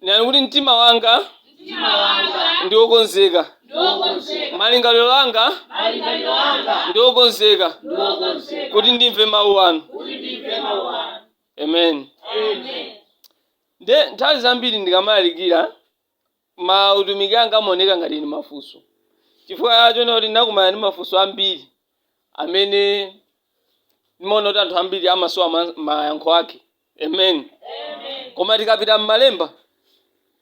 Nenani kuti, Mtima wanga Mtima wanga ndi wokonzeka. ndi wokonzeka, Malingaliro anga malingaliro anga ndi wokonzeka ndi wokonzeka, kuti ndimve mawu anu. kuti ndimve mawu anu. Amen. Amen. Nde nthawi zambiri ndikamalalikira mautumiki anga amaoneka ngati ndi mafunso. Chifukwa chonena kuti ndinakumana ndi mafunso ambiri amene ndimaona kuti anthu ambiri amasowa ma- mayankho ake. Amen. Koma tikapita m'malemba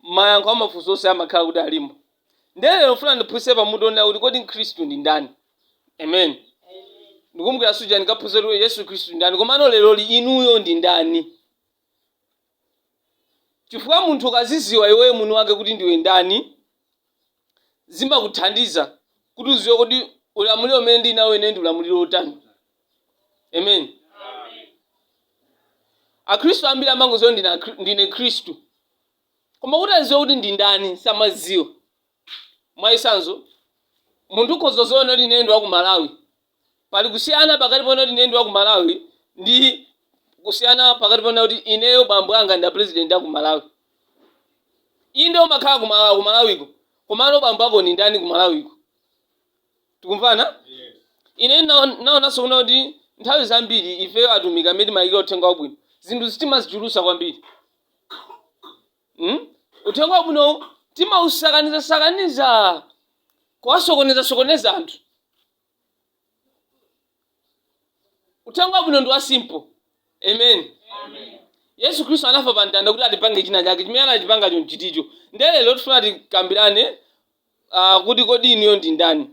mayankho a mafunso onse amakhala kuti alimo. Ndiye lero ndifuna ndiphunzitse pa mutu onena kuti kodi Mkhristu ndi ndani? Amen. Ndikumbukira suja ndikaphunzitsa kuti Yesu Khristu ndi ndani komano leroli inuyo ndi ndani? Chifukwa munthu ukaziziwa iweyo mwini wake kuti ndiwe ndani zimakuthandiza kuti uziwe kuti ulamuliro umene ndili nawo ine ndi ulamuliro wotani amen akhristu ambiri amangoziwa ndine Akhri- ndine mkhristu koma kuti aziwe kuti ndi ndani samaziwa mwachitsanzo munthu ukhoza kuziona kuti ine ndi wa ku malawi Pali kusiyana pakati ponena kuti ineyo ndi wa ku Malawi ndi kusiyana pakati ponena kuti ineyo bambo anga ndi a President a ku Malawi. Inde umakhala ku Malawi, ku Malawiko, komano bambo ako ndi ndani ku Malawiko? Tikumvana? Ineyo ndina- ndinaonanso kunena kuti nthawi zambiri ifeyo atumiki amene timalalikira uthenga wabwino, zinthu timazichulutsa kwambiri. Mm? Uthenga wabwinowu timausakaniza-sakaniza, kuwasokoneza-sokoneza anthu. uthenga wabwino ndi wa simple amen yesu khristu anafa pa mtanda kuti atipange china chake chimene anachipanga chonchiticho ndiye lero tifuna tikambirane ah, kuti kodi inuyo ndi ndani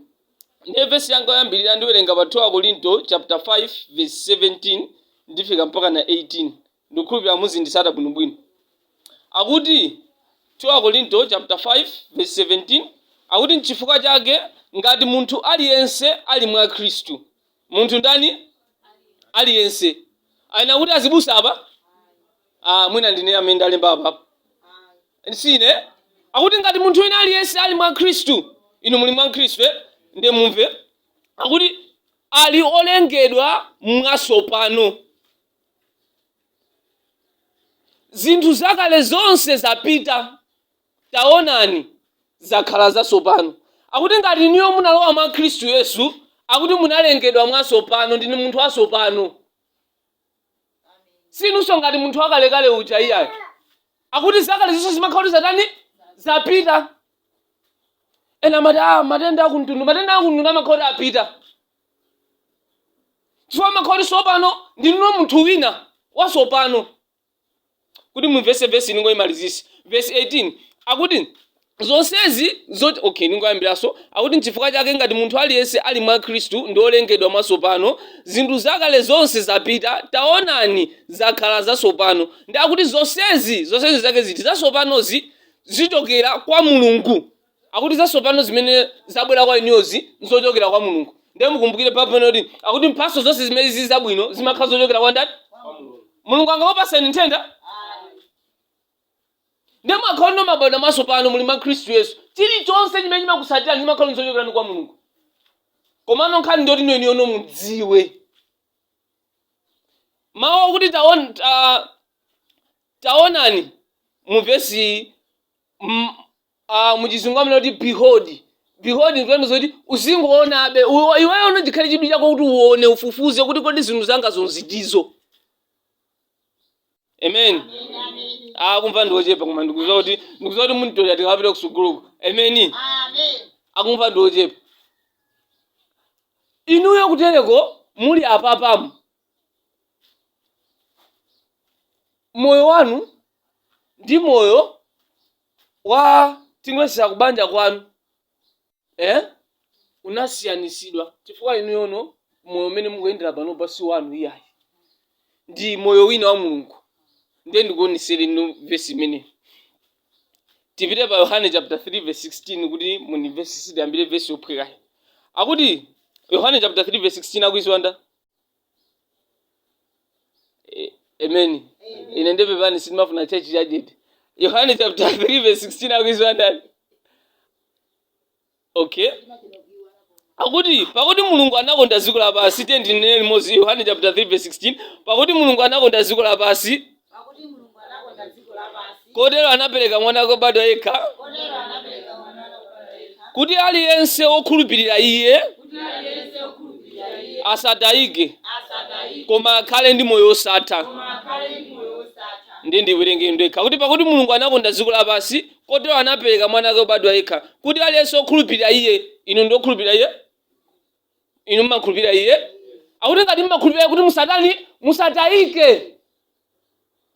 ndiye vesi yanga yoyambirira ndiwerenga pa 2 akorinto chapter 5 verse 17 ndifika mpaka na 18 Ndikukhulupirira muzindisata bwinobwino. Akuti 2 Akorinto chapter 5 verse 17 akuti nchifukwa chake ngati munthu aliyense ali mwa Khristu. Munthu ndani? Aliyense. Anena kuti azibusa apa? Ah, mwina ndine amene ndalemba apa. Sine. Akuti ngati munthu wina aliyense ali mwa Khristu, inu muli mwa Khristu, eh? Ndiye mumve. Akuti ali olengedwa mwatsopano. zinthu zakale zonse zapita taonani zakhala zatsopano akuti ngati inuyo munalowa mwa khristu yesu akuti munalengedwa mwatsopano ndinu munthu watsopano sinunso ngati munthu wakalekale uja iyayi akuti zakale zonse zimakhala kuti zatani zapita ena amati ah, matenda akumtundu matenda akumtundu amakhala kuti apita chifukwa mwakhala tsopano ndinuyo munthu wina wasopano kuti mumvese vesi ndingoyimalizisa vesi 18 akuti zonsezi zoti okay ndingoyambiranso akuti nchifukwa chake ngati munthu aliyense ali mwa khristu ndi olengedwa mwasopano zinthu zakale zonse zapita taonani zakhala zasopano ndiye akuti zonsezi zonsezi zake ziti zasopanozi zichokera kwa mulungu Akuti zasopano zimene zabwera kwa inuyozi nzochokera kwa Mulungu. Ndiye mukumbukire Bible imanena kuti akuti mphatso zonse zimene zili zabwino zimakhala zochokera kwa ndani? Mulungu angakupaseni nthenda? Ndiye mukakhala kuti mwabadwa masopano muli mwa Khristu Yesu. Chilichonse chimene chimakusatirani chimakhala chochokera kwa Mulungu. Komano nkhani ndiyoti inuyono mudziwe. Mawu akuti taon, ta, taonani mu vesi m- uh, muchizungu amanena kuti behold behold nkutanthauza kuti uzingoonabe Iwe- iweyo uno chikhale chidwi chako kuti uone ufufuze kuti kodi zinthu zanga zonse ndi ziti amen akumva ndiochepa koma ndikuziwa kuti ndikuziwa kuti munitolera tikapita kusukuluko amen akumva ndiochepa inuyo kutereko muli apapamu moyo wanu ndi moyo wa timwesera kubanja kwanu eh? unasiyanisidwa chifukwa inuyono moyo umene mukuyendera panopa si wanu iyayi ndi moyo wina wa mulungu ndiye ndikuonesere inu vesi imeneyi tipite pa yohane chapter 3 verse 16 kuti mundimvese tiyambire vesi yophwekayi akuti yohane chapter 3 verse 16 akuiziwa ndani Eh, amen ine ndiye pepani sindimafuna chechi chajeti yohane chapter 3 verse 16 akuiziwa ndani okay akuti pakuti mulungu anakonda dziko lapansi tiyeni tinene limodzi yohane chapter 3 verse 16 pakuti mulungu anakonda dziko lapansi kotero anapereka mwana wake obadwa yekha kuti aliyense wokhulupirira iye asatayike koma akhale ndi moyo wosatha ndiye ndiwerenge ndekha kuti pakuti mulungu anakonda dziko lapansi kotero anapereka mwana wake obadwa yekha kuti aliyense wokhulupirira iye inu ndi wokhulupirira iye inu mmakhulupirira iye akuti ngati mmakhulupirira akuti musatani musatayike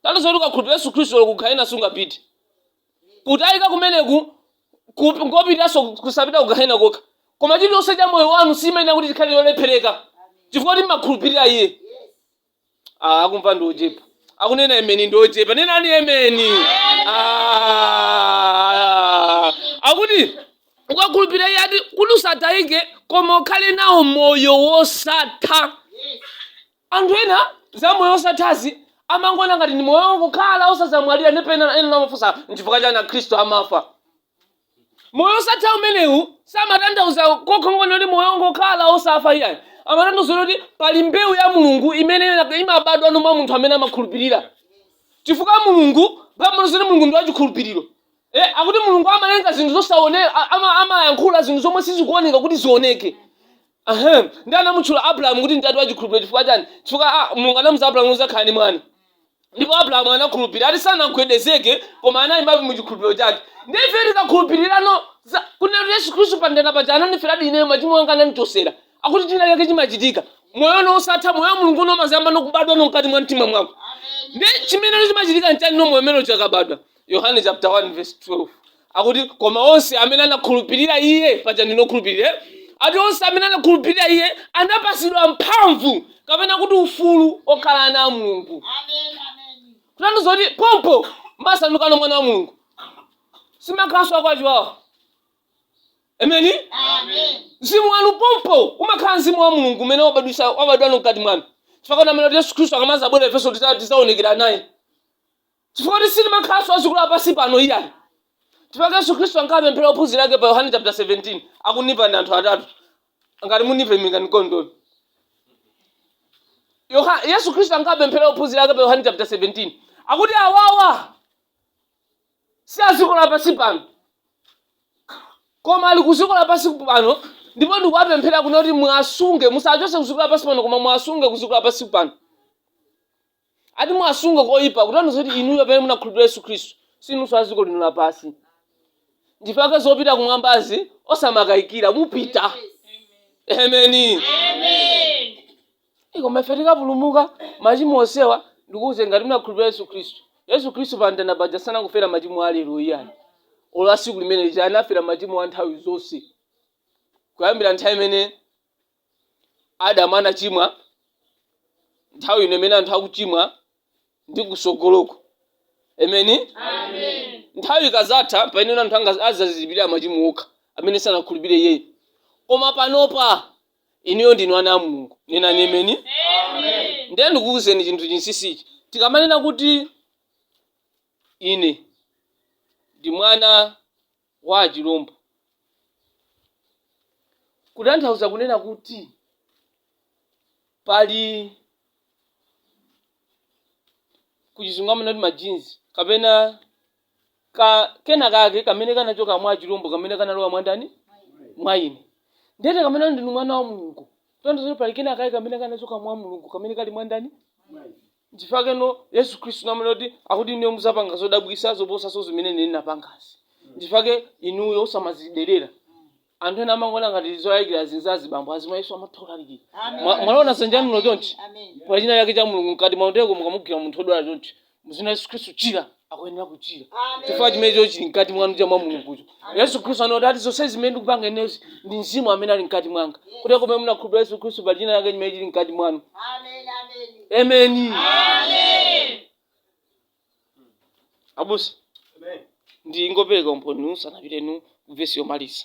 tati zoti ukakhulupirira yesu khristu lero kugahena sungapite kutayika kumeneku ku- ngopitanso kusapita kugahena kokha koma chilichonse cha moyo wanu sichimayenera kuti chikhale cholephereka chifukwa choti mmakhulupirira iye Ah, akumva ndi ochepa akunena emeni ndi ochepa nenani emeni Ah, akuti ukakhulupirira iye ati kuti usatayike koma ukhale nawo moyo wosatha anthu ena za moyo wosathazi amangoona ngati ndi moyo wokhala osazamwalira ndipo ena amafunsa nchifukwa chani akhristu amafa moyo osatha umenewu samatanthauza kokha kuti moyo ongokhala osafa iyayi amatanthauza kuti pali mbewu ya mulungu imene imabadwa mwa munthu amene amakhulupirira chifukwa mulungu pajatu mulungu ndi wachikhulupiriro e, akuti mulungu amalenga zinthu zosaoneka amayankhula zinthu zomwe sizikuoneka kuti zioneke Ahem. Ndi anamutchula Abrahamu kuti ntate wa chikhulupiriro chifukwa chani? Chifukwa a, Mulungu anamuuza Abrahamu kuti udzakhala ndi mwana. Ndipo Abrahamu anakhulupirira. Ati sanagwedezeke koma anayimabe mu chikhulupiriro chake. Ndi ife tikakhulupirirano za kunena kuti Yesu Khristu pamtanda paja anandiferadi ineyo machimo anga anandichosera. Akuti china chake chimachitika. Moyo no wosatha moyo wa Mulungu no umazayamba nokubadwa no mkati mwa mtima mwako. Ndi chimene chimachitika nchani no moyo umene ukabadwa. Yohane chapter 1 verse 12 akuti koma onse amene anakhulupirira iye paja ndine okhulupirira eh? ati onse amene anakhulupirira iye anapasidwa mphamvu kapena kuti ufulu okhala ana a mulungu kunena zoti pompo masandukano mwana wa mulungu simakhalanso akwachiwawa ameni mzimu wanu pompo umakhala mzimu wa mulungu umene wabadwisa- wabadwano mkati mwanu chifukwa nchake kuti yesu khristu akamazabwera ifenso tiza- tizaonekera naye Chifukwa kuti sitimakhalanso a dziko la pansi pano iyayi. Chifukwa chake Yesu Khristu ankawapemphera ophunzira ake pa Yohane chapter 17, akundimva ndi anthu atatu. Ngati mukundimva ndiimbireni mkondoni. Yoha, Yesu Khristu ankawapemphera ophunzira ake pa Yohane chapter 17. Akuti awawa si a dziko la pansi pano. Koma ali ku dziko la pansi pano ndipo ndikuwapemphera kunena kuti muwasunge musawachotse ku dziko la pansi pano koma muwasunge ku dziko la pansi pano. ati muwasunge ku oyipa kutanthauza kuti inuyo pamene munakhulupirira yesu khristu sinunso a dziko lino lapansi ndiye chake zopita kumwambazi osamakayikira mupita emeni koma ife tikapulumuka machimo onsewa ndikuuze ngati munakhulupirira yesu khristu yesu khristu pa mtanda paja sanangofera machimo a lero iyayi ola siku limene lija anafera machimo a nthawi zonse kuyambira nthawi imene Adamu anachimwa, nthawi ino imene anthu akuchimwa ndi kusogoloko. Ameni. Nthawi ikazatha pamene anthu azazilipirira machimo okha amene sanakhulupirire iyeyo. Koma panopa inuyo ndinu ana a Mulungu. Nenani ameni. Ndiye ndikuwuzeni chinthu chinsisichi. Tikamanena kuti ine ndi mwana wa chilombo kutanthauza kunena kuti pali kuchizungu amanena kuti majinzi kapena ka, kena kake kamene kanachoka mwa chilombo kamene kanalowa mwandani mwa ine ndiye kamene ndinu mwana wa mulungu kutanthauza pali kena kake kamene kanachoka mwa mulungu kamene kali mwandani Nchifukwa chake Yesu Khristu amanena kuti akuti inuyo muzapanga zodabwisa zoposaso zimene ine ndinapangazi. Nchifukwa chake inuyo osamazidelera. Anthu ena amangoona ngati zolalikira izi ndi za azibambo, azimayiso amatha kulalikira. Mwa- Mwaliona zanjanulo chonchi? Pali china chake cha Mulungu mkati mwanu ndiye mukamugwira munthu wodwala chonchi, muzina Yesu Khristu chira. akuyenera kuchira chifukwa chimenecho chili mkati mwanu cha mwa mulungucho yesu khristu ananena ati zonse zimene ndikupanga inezi ndi mzimu amene ali mkati mwanga kuti pomwe munakhulupirira yesu khristu pali china chake chimene chili mkati mwanu amen abusa ndingopereka umboni tisanapite ku vesi yomaliza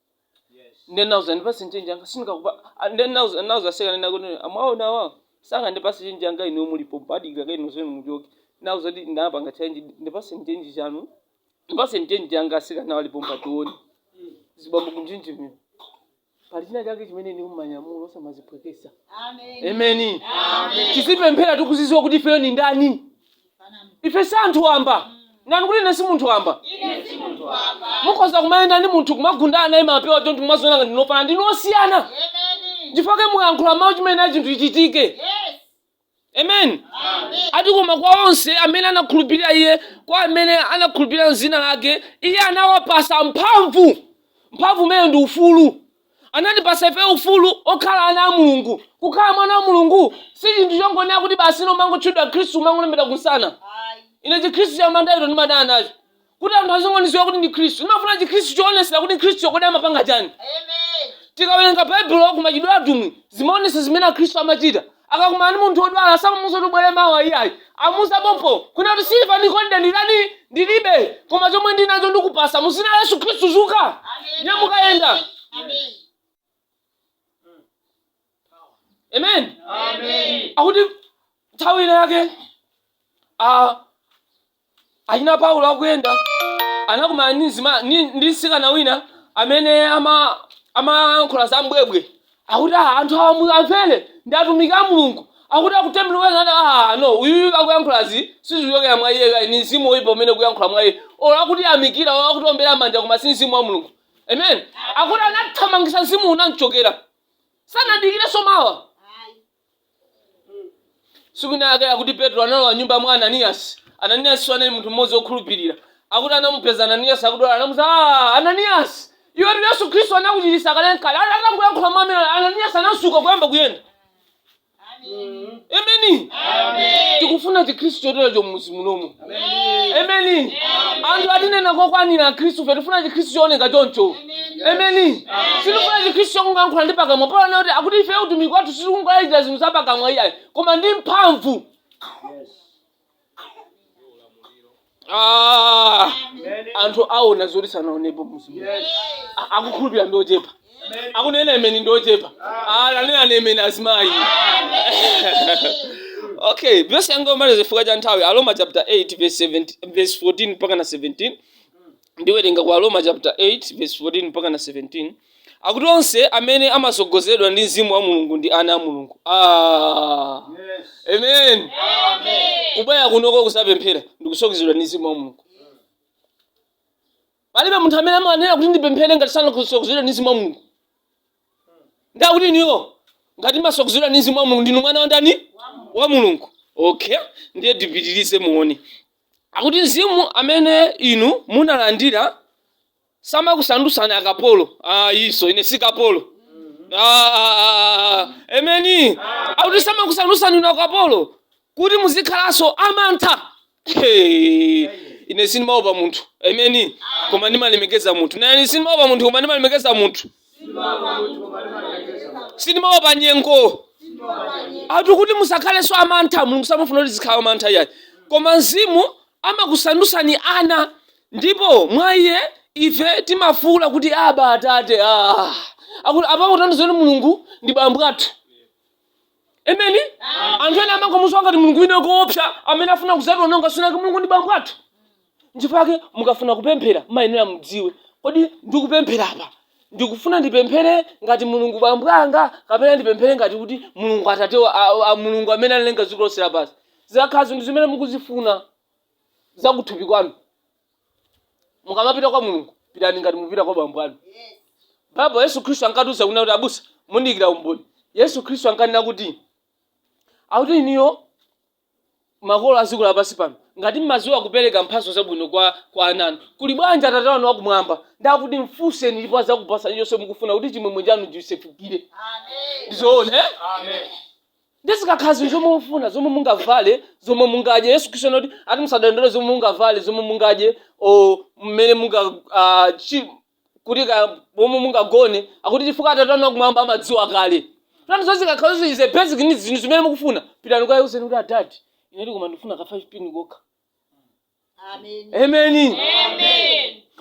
ndiye nauza ndipase chenje anga sindikakupa ah, ndiye nauza nauza aseka kunena kuti mwaona awa saka ndipase chenje anga ino mulipo badika kaino zenu muchoke nauza kuti ndapanga change ndipase chenje chanu ndipase chenje anga aseka nawo alipo mpationi azibambo kunjenjemera pali china chake chimene inu mwanyamula osamaziphweketsa amen tizipemphera tikuziziwa kuti ifeyo ni ndani ife si anthu wamba nenani kuti ine si munthu wamba Ine si munthu wamba. mukhoza kumayenda ndi munthu kumagundana mapewa chonchi kumaziona ngati ndinu ofanana ndinu osiyana Amen. chifukwa mulankhula mawu chimene chinthu chichitike Yes. amen Amen. ati koma kwa onse amene anakhulupirira iye kwa amene anakhulupirira mzina lake iye anawapasa mphamvu mphamvu imeneyo ndi ufulu anatipasa ife ufulu okhala ana a mulungu kukhala mwana wa mulungu si chinthu chongonena kuti basi inu umangotchedwa mkhristu umangolembedwa kunsana ine chikhristu cha mandaito ndimadana nacho kuti anthu azingondiziwa kuti ndi mkhristu ndimafuna chikhristu choonesera kuti mkhristu kodi amapanga chani tikawerenga baibulo kumachitidwe atumwi zimaonesa zimene akhristu amachita akakumana ndi munthu wodwala samamuuza kuti ubwere mawa iyayi amuuza pompo kunena kuti siliva ndi golide nditani ndilibe koma chomwe ndinacho ndikupasa mu zina la yesu khristu zuka nyamuka yenda amen akuti nthawi ina yake ah, Achina Paulo akuyenda anakumana ndi mzima- ndi ndi mtsikana wina amene ama amayankhula za mbwebwe akuti "Ah, anthu awa mu- amvere ndi atumiki a mulungu akuti akutembenuka ati ah no uyuyu akuyankhulazi sizichokera mwa iyeyo ayi ni mzimu woyipa umene ukuyankhula mwa iye olo akutiyamikira olo akutiombera manja koma si mzimu wa mulungu amen akuti anathamangisa mzimu unamchokera sanadikirenso mawa tsiku lina ake akuti petro analowa mnyumba mwa ananiyasi ananiyasi anali munthu mmodzi wokhulupirira akuti anamupeza ananiyasi akudwala anamuuza "Ah, ananiyasi iwetu yesu khristu anakuchiritsa kale kale atangoyankhula mwamene ananiyasi anadzuka kuyamba kuyenda ameni tikufuna chikhristu choterecho mmuzi munomo emeni anthu atinena kwakwanira akhristu fe tifuna chikhristu chooneka choncho emeni sitifuna chikhristu chongoyankhula ndi pakamwa paulo kuti akuti ife utumiki wathu sitikungolalikira zinthu za pakamwa iyayi koma ndi mphamvu Ah, anthu aona zoti sanaonepo muzimu akhulupirira ndi ochepa akunena ameni ndi ochepa nenani ameni azimayi okay vesi yanga yomaliza chifukwa cha nthawi aroma chapter 8 verse 17 verse 14 mpaka na 17 ndiwerenga kwa aroma chapter 8 verse 14 mpaka na 17 akuti onse amene amatsogozedwa ndi mzimu wa mulungu ndi ana a mulungu ah. amen kubwera kunoko kudzapemphera ndikutsogozedwa ndi mzimu wa mulungu palibe munthu amene amanena kuti ndipemphere ngati sanatsogozedwe ndi mzimu wa mulungu ndiye kuti inuyo ngati mumatsogozedwa ndi mzimu wa mulungu ndinu mwana wa ndani wa mulungu okay ndiye tipitirize muone akuti mzimu amene inu munalandira samakusandutsani akapolo ah, iso ine si kapolo Ah, emeni akuti samakusandutsani inu akapolo kuti muzikhalanso amantha Hey, ine sindimaopa munthu ameni koma ndimalemekeza munthu nani sindimaopa munthu koma ndimalemekeza munthu sindimaopa nyengo akuti musakhalenso amantha mulungu samafuna kuti uzikhala amantha iyayi koma mzimu amakusandutsani ana ndipo mwa iye ife timafuwula kuti aba atate ah. akuti apapo atandauza kuti mulungu ndi bambo athu emeni anthu ena amangomudziwa ngati mulungu wina koopsa amene afuna kudzationonga tsiku linake mulungu ndi bambo athu nchifukwa mukafuna kupemphera muyenera mudziwe kodi ndikupemphera apa ndikufuna ndipemphere ngati mulungu bambo anga kapena ndipemphere ngati kuti mulungu atate wa- a- a- mulungu amene analenga dziko lonse lapansi zikakhala zinthu zimene mukuzifuna zakuthupi kwanu mukamapita kwa mulungu pitani ngati mupita kwa bambo anu baba yesu khristu ankatiuza kunena kuti abusa mundiyikira umboni yesu khristu ankanena kuti akuti inuyo makolo a dziko lapansi pano ngati mmadziwa kupereka mphatso zabwino kwa kwa ana anu kuli bwanji atate wanu wakumwamba ndakuti mfunseni ndipo adzakupatsani chonse mukufuna kuti chimwemwe chanu chisefukire ndizoona eh? Ndiye zikakhala zinthu zomwe mukufuna, zomwe mungavale, zomwe mungadye, Yesu Khristu anati ati musadandaule zomwe mungavale, zomwe mungadye, o mmene munga ah, chi- kuti ka pomwe mungagone, akuti chifukwa Atate anu akumwamba amadziwa kale. Tani zonsezo zikakhala zonse izi basic needs zinthu zimene mukufuna, pitani kwa Yesu kuti adadi, inetu koma ndifuna ka 5 pin kokha. ameni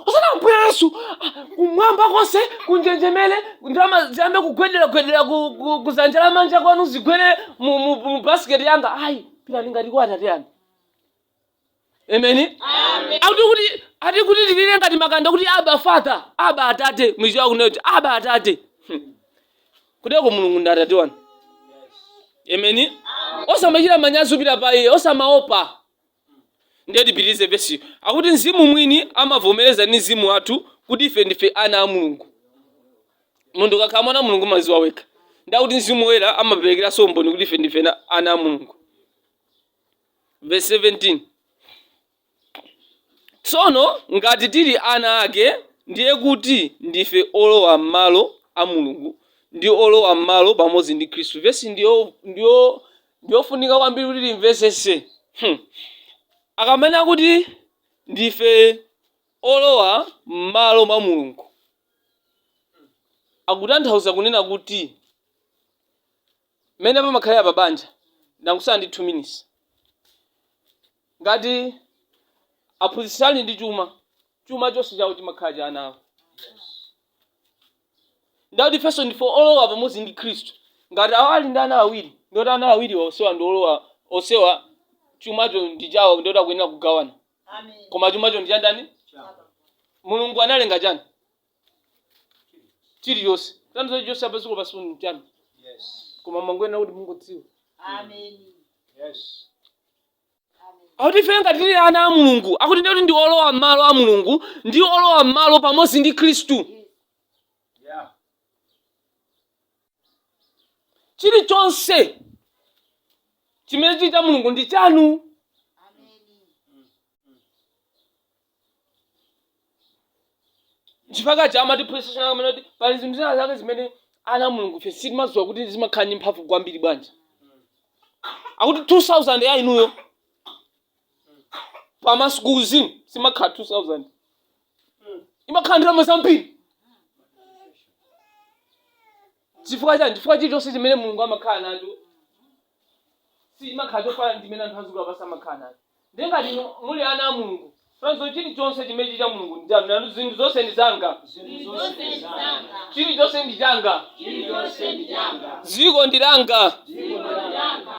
osati ambuye yesu ah, kumwamba konse kunjenjemere ndalama ziyambe kugwedera gwedera ku- ku- kuzanja la manja kwanu zigwere mu- mu mu basiketi yanga ayi pitani ngati kwa atate anu ameni akuti kuti ati kuti tilire ngati makanda kuti aba father aba atate m'Chichewa kunoti aba atate Hmm. kuteroko mulungu ndi atate wanu ameni osamachita manyazi kupita pa iye osamaopa Ndiye tipitirize vesiyi. Akuti Mzimu mwini amavomereza ndi mzimu wathu kuti ife ndife ana a Mulungu. Munthu ukakhala mwana wa Mulungu umaziwa wekha. Ndi akuti Mzimu Woyera amaperekeranso umboni kuti ife ndife na- ana a Mulungu. Verse 17. Tsono ngati tili ana ake, ndiye kuti ndife olowa m'malo a Mulungu ndi olowa m'malo pamodzi ndi Khristu. Vesi ndiyo, ndiyo ndiofunika kwambiri kuti timvesese hmm. akamanena kuti ndife olowa mmalo mwa mulungu akutanthauza kunena kuti mmene pamakhalira pa banja ndangotsala ndi 2 minutes ngati aphunzitsi ali ndi chuma chuma chonse chawo chimakhala cha ana awo ndikuti ifenso ndife olowa pamodzi ndi khristu ngati awa ali ndi ana awiri ndikuti ana awiriwa onsewa ndi olowa onsewa chumacho ndi chawo ndikuti akuyenera kugawana koma chumacho ndi chandani mulungu analenga chani chilichonse tandizo chilichonse apa dziko lapansi ndi chani koma mumangoyenera kuti mungodziwa Amen. Yes. akuti ife ngati tili ana a mulungu akuti ndikuti ndi olowa m'malo a mulungu ndi olowa m'malo pamodzi ndi khristu chilichonse chimene chili cha mulungu ndi chanu chifukwa chake amatiphunzitsa china chake kumanena kuti pali zinthu zina zake zimene ana a mulungu fe sitimadziwa kuti zimakhala ndi mphamvu kwambiri bwanji akuti 2000 ya inuyo pamaso kuuzimu siimakhala 2000 imakhala ndalama zambiri chifukwa chani chifukwa chilichonse chimene mulungu amakhala nacho sichimakhala chofanana ndi chimene anthu a dziko lapansi amakhala nacho ndiye ngati inu muli ana a mulungu chitsanzo chilichonse chimene chili cha mulungu ndi chanu nanu zinthu zonse ndi zanga Zinthu zonse ndi zanga, chilichonse ndi changa chilichonse ndi changa, dziko ndi langa dziko ndi langa,